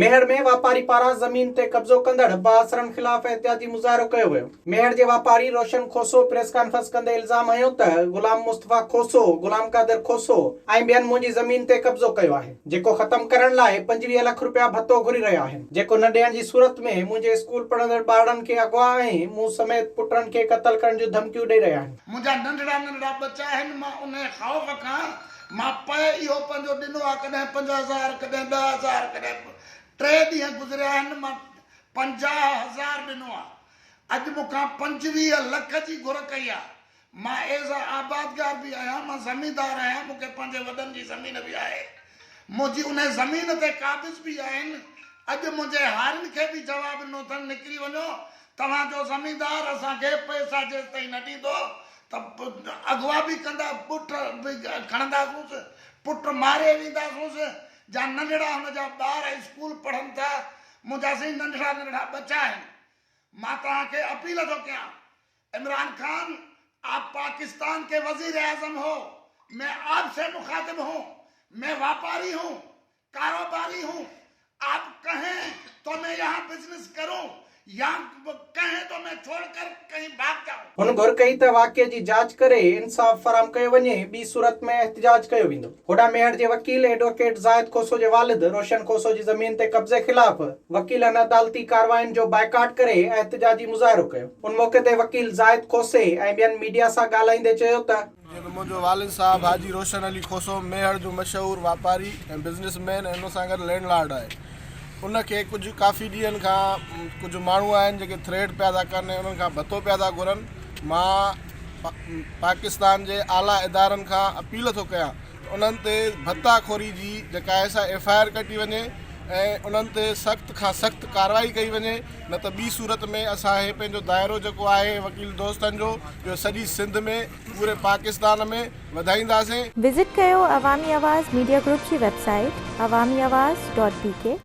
ميهڙ ۾ واپاري پاران زمين تي قبضو ڪندڙ بااثرن خلاف احتجاجي مظاهرو ڪيو ويو. ميهڙ جي واپاري روشن کوسو پريس ڪانفرنس ڪندي الزام هنيو ته غلام مصطفيٰ کوسو، غلام قادر کوسو ۽ ٻين منهنجي زمين تي قبضو ڪيو آهي، جيڪو ختم ڪرڻ لاء پنجويهه لک رپيا ڀتو گهري رهيا آهن، جيڪو نه ڏيڻ جي صورت ۾ منهنجي اسڪول پڙهندڙ ٻارڙن کي اغوا ۽ مون سميت پٽن کي قتل ڪرڻ جون ڌمڪيون ڏئي رهيا آهن. منهنجا ننڍڙا ننڍڙا ٻچا آهن، مان انهيء خوف کان مان پئي اهو پنهنجو ڏنو آ ڪڏهن پنج هزار ڪڏهن ڏهه هزار ڪڏهن ٽي ڏينهن گذريا آهن مان پنجاهه هزار ڏنو آ اڄ مون کان پنجويهه لک جي گهر ڪئي آ مان ايز اي آبادگار به آهيان مان زميندار آهيان مون کي پنهنجي وڏن جي زمين به آهي منهنجي انهي زمين تي قابض به آهن اڄ منهنجي هارين کي به جواب ڏنو اٿن نڪري وڃو توهان جو زميندار اسان کي پئسا جيستائين نه ڏيندو ته اغوا به ڪندا، بٺ به کڻنداسونس، پٽ ماري وينداسونس، جا ننڍڙا هن جا ٻار اسڪول پڙهن ٿا، منهنجا سائين ننڍڙا ننڍڙا ٻچا آهن، مان توهان کي اپيل ٿو ڪيان. عمران خان آپ پاڪستان ڪي وزيراعظم هو، مين آپ سي مخاطب هون، مين واپاري هون، ڪاروباري هون آپ ڪهين تو مين يهان بزنس ڪرون يا ڪهين تو مين ڇوڙ ڪر ڪهين ڀاگ جائون. هن گهر ڪئي ته واقعي جي جاچ ڪري انصاف فراهم ڪيو وڃي ٻي صورت ۾ احتجاج ڪيو ويندو. هوڏانهن ميهڙ جي وڪيل ايڊووڪيٽ زاهد کوسو جي والد روشن کوسو جي زمين تي قبضي خلاف وڪيلن عدالتي ڪاررواين جو بائيڪاٽ ڪري احتجاجي مظاهرو ڪيو ان موقعي تي وڪيل زاهد کوسي ۽ ٻين ميڊيا سان ڳالهائيندي چيو ته جيئن ته منهنجو والد صاحب حاجي روشن علي کوسو ميهڙ جو مشهور واپاري ۽ بزنس مين ۽ ان سان گڏ لينڊ لارڊ آهي ان کي ڪجهه ڪافي ڏينهن کان ڪجهه ماڻهو آهن جيڪي ٿريڊ پيا ٿا ڪن ۽ انهن کان ڀتو پيا ٿا گهرن مان پاڪستان جي اعليٰ ادارن کان اپيل ٿو ڪيان انهن تي ڀتا خوري جي جيڪا آهي سا ايف آء آر ڪٽي وڃي ۽ انهن تي سخت کان سخت ڪارروائي ڪئي وڃي نه ته ٻي صورت ۾ اسان هي پنهنجو دائرو جيڪو آهي وڪيل دوستن جو اهو سڄي سنڌ ۾ پوري پاڪستان ۾ وڌائينداسين. وزٽ ڪيو عوامي آواز ميڊيا گروپ جي website Awami Awaz dot بي ڪي.